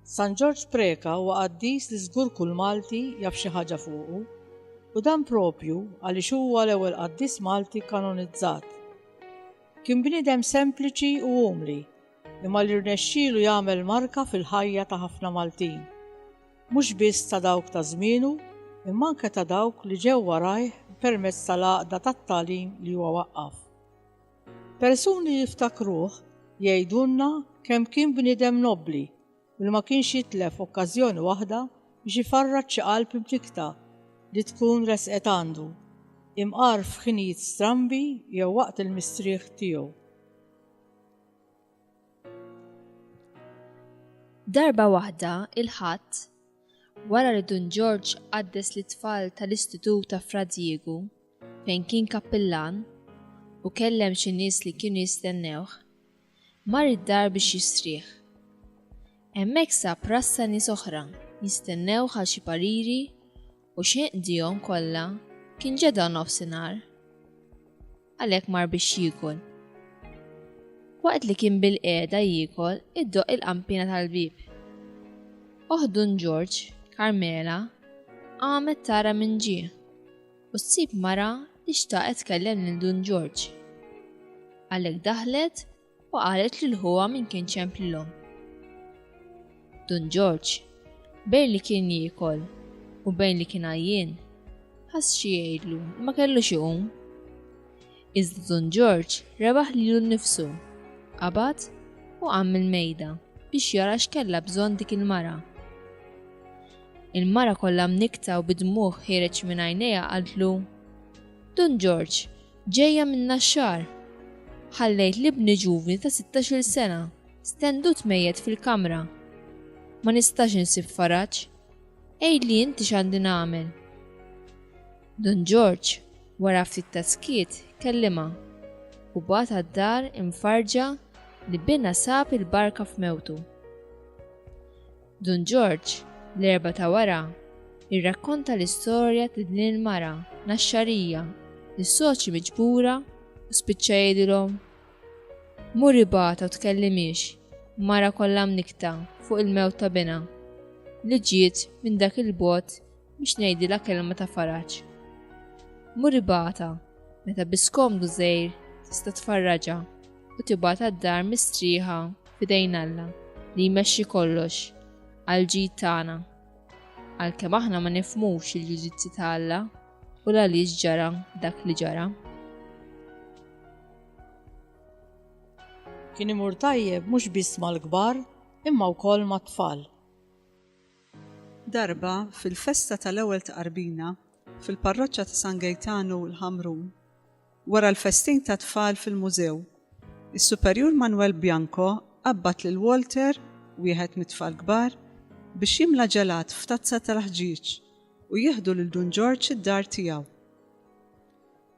San Ġorġ Preca huwa qaddis li żgur kull Malti jaf xi ħaġa fuqu, u dan proprju għaliex huwa l-ewwel qaddis Malti kanonizzat. Kien bniedem sempliċi u umli, imma li rnexxielu jagħmel marka fil-ħajja ta' ħafna Maltin. Mhux biss ta' dawk ta' żmienu, imma anke ta' dawk li ġew warajh permezz tal-għaqda tat-tagħlim li huwa waqqaf. Persuni jiftakruh jgħidulna kemm kien bniedem nobbli u li ma kienx jitlef okkażjoni waħda biex ifarrad xi qalb imtikkta li tkun resqet għandu, imqar f'ħinijiet strambi jew waqt il-mistrieħ tiegħu. Darba waħda, il-Ħadd, wara li Dun Ġorġ qaddes lit-tfal tal-Istitut ta' Fra Diegu, fejn kien kappillan, u kellem xi nies li kienu jistennewh, mar id-dar biex jistrieħ. Hemmhekk sab rassa nies oħra jistennewh għal xi pariri u xejn qdihom kollha kien ġeda nofsinhar. Għalhekk mar biex jiekol. Waqt li kien bilqiegħda jiekol iddoqq il-qampina tal-bieb. Oħt Dun Ġorġ, Karmela, qamet tara min ġie. u ssib mara li xtaqet tkellem lil Dun Ġorġ. Għalhekk daħlet u qalet lil ħuha min kien ċemplilhom. Dun Ġorġ, bejn li kien jiekol u bejn li kien għajjien, ħass xi jgħidlu ma kellux iqum. Iżda Dun Ġorġ rebaħ lilu nnifsu, qabad u qam mill-mejda biex jara x'kellha bżonn dik il-mara. Il-mara kollha mnikkta u bid-dmugħ ħiereġ minn għajnejha qaltlu, Dun Ġorġ, ġejja min-Naxxar! Ħallejt l-ibni ġuvni ta' sittax-il sena stendut mejjet fil-kamra. Ma nistax insib faraġ. Għidli inti x'għandi nagħmel. Dun Ġorġ, wara ftit ta' skiet, kellimha u bagħat għad-dar imfarrġa li binha sab il-barka f'mewtu. Dun Ġorġ, l-Erbgħa ta' wara, irrakkonta l-istorja ta' din il-mara Naxxarija li soċi miġbura u spiċċa jgħidilhom, Mur ibata u tkellimhiex, mara kollha mnikkta fuq il-mewt ta' binha li ġiet minn dak il-bogħod biex ngħidilha kelma ta' faraġ. Muribata, meta biskomdu żejr tista' tfarraġa u tibata d-dar mistrieħa f'idejn Alla li jmexxi kollox għal ġid tagħna. Għalkemm aħna ma nifmux il-ġudizzji ta' Alla u l-għaliex ġara dak li ġara. Kien imur tajjeb mhux biss mal-kbar imma wkoll mat-tfal. Darba, fil-festa tal-ewwel tqarbina fil-parroċċa ta' San Gejtanu l-Ħamrun, wara l-festin tat-tfal fil-mużew, is-Superjur Manwel Bianco qabbad lil Walter, wieħed mit-tfal kbar, biex jimla ġelat f'tazza tal-ħġieġ u jieħdu lil Dun Ġorġ id-dar tiegħu.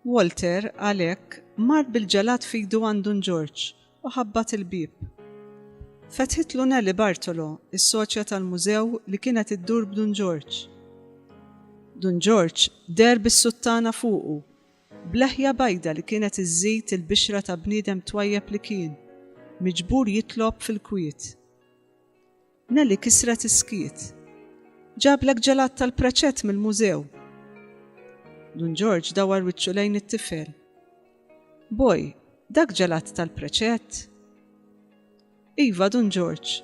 Walter, għalhekk, mar bil-ġelat f'idu għand Dun Ġorġ u ħabbat il-bieb. Fetħitlu Nellie Bartolo, is-soċja tal-mużew li kienet iddur b'Dun Ġorġ. Dun Ġorġ deher bis-suttana fuqu, b'leħja bajda li kienet iżżid il-bixra ta' bniedem twajjeb li kien, miġbur jitlob fil-kwiet. Nelly kisret is-skiet. Ġablek ġelat tal-praċett mill-mużew. Dun Ġorġ dawar wiċċu lejn it-tifel. Boj, dak ġelat tal-praċett? Iva, Dun Ġorġ,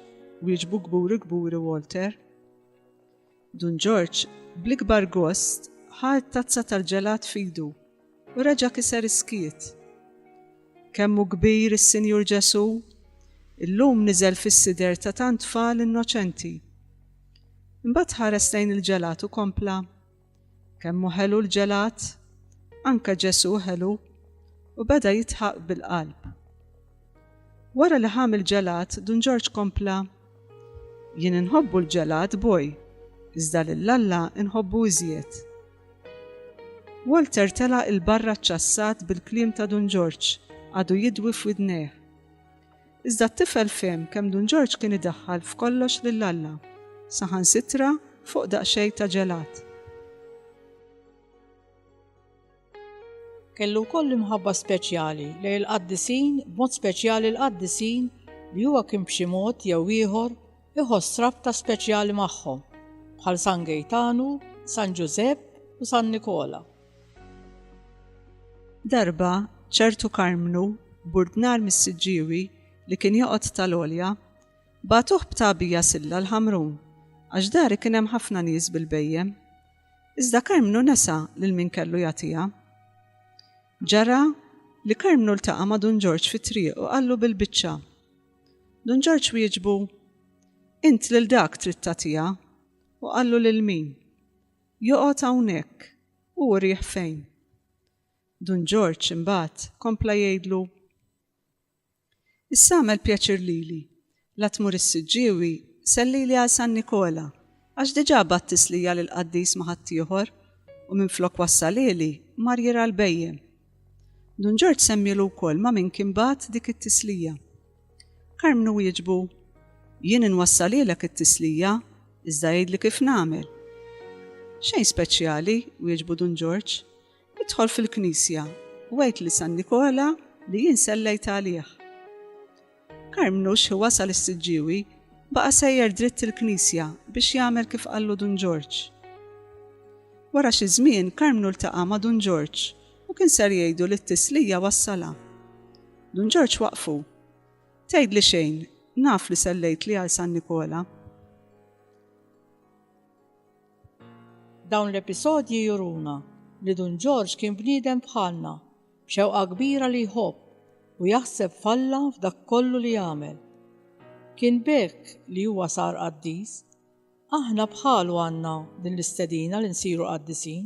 wieġbu kburi kburi Walter. Dun Ġorġ, bl-ikbar gost, ħa t-tazza tal-ġelat f'idu u reġa' kiser is-skiet. Kemm hu kbir is-Sinjur Ġesù! Illum niżel fis-sider ta' tant tfal innoċenti. Imbagħad ħares lejn il-ġelat u kompla, Kemm hu ħelu l-ġelat! Anke Ġesù ħelu! U beda jidħaq bil-qalb. Wara li ħa mill-ġelat, Dun Ġorġ kompla, Jien inħobbu l-ġelat boj, iżda lil Alla nħobbu iżjed. Walter telaq 'il barra ċċassat bil-kliem ta' Dun Ġorġ għadu jidwi f'widnejh. Iżda t-tifel fehem kemm Dun Ġorġ kien idaħħal f'kollox lil Alla, saħansitra fuq daqsxejn ta' ġelat. Kellu wkoll imħabba speċjali lejn il-qaddisin, b'mod speċjali l-qaddisin li huwa kien b'xi mod jew ieħor iħoss rabta speċjali magħhom, bħal San Gejtanu, San Ġużepp u San Nikola. Darba, ċertu Karmnu, burdnar mis-Siġġiewi, li kien joqgħod tal-Għolja, bagħtuh b'tagħbija silla l-Ħamrun, għax dari kien hemm ħafna nies bil-bhejjem. Iżda Karmnu nesa lil min kellu jagħtiha. Ġara li Karmnu ltaqa' ma' Dun Ġorġ fit-triq u qallu bil-biċċa. Dun Ġorġ wieġbu, Int lil dak trid tagħtiha, u qallu lil min? Joqgħod hawnhekk, u urih fejn. Dun Ġorġ imbagħad kompla jgħidlu, Issa agħmel pjaċir lili, la tmur is-Siġġiewi, sellili għal San Nikola, għax diġà bagħat tislija lill-qaddis ma' ħaddieħor, u minflok wassalieli, mar jirgħa l-bhejjem. Dun Ġorġ semmielu wkoll ma' min kien bagħat dik it-tislija. Karmnu wieġbu, Jien inwassalielek it-tislija, iżda għidli kif nagħmel. Xejn speċjali, wieġbu Dun Ġorġ. Idħol fil-knisja u għid li San Nikola li jien sellejt għalih. Karmnu xi wasal is-Siġġiewi baqa' sejjer dritt il-knisja biex jagħmel kif qallu Dun Ġorġ. Wara xi żmien Karmnu ltaqa' ma' Dun Ġorġ u kien ser jgħidu li t-tislija wassalha. Dun Ġorġ waqfu. Tgħidli xejn, naf li sellejt li għal San Nikola. Dawn l-episodji juruna li Dun Ġorġ kien bniedem bħalna, b'xewqa kbira li jħobb u jaħseb f'Alla f'dak kollu li jagħmel. Kien b'hekk li huwa sar qaddis. Aħna bħalu għandna din l-istedina li nsiru qaddisin.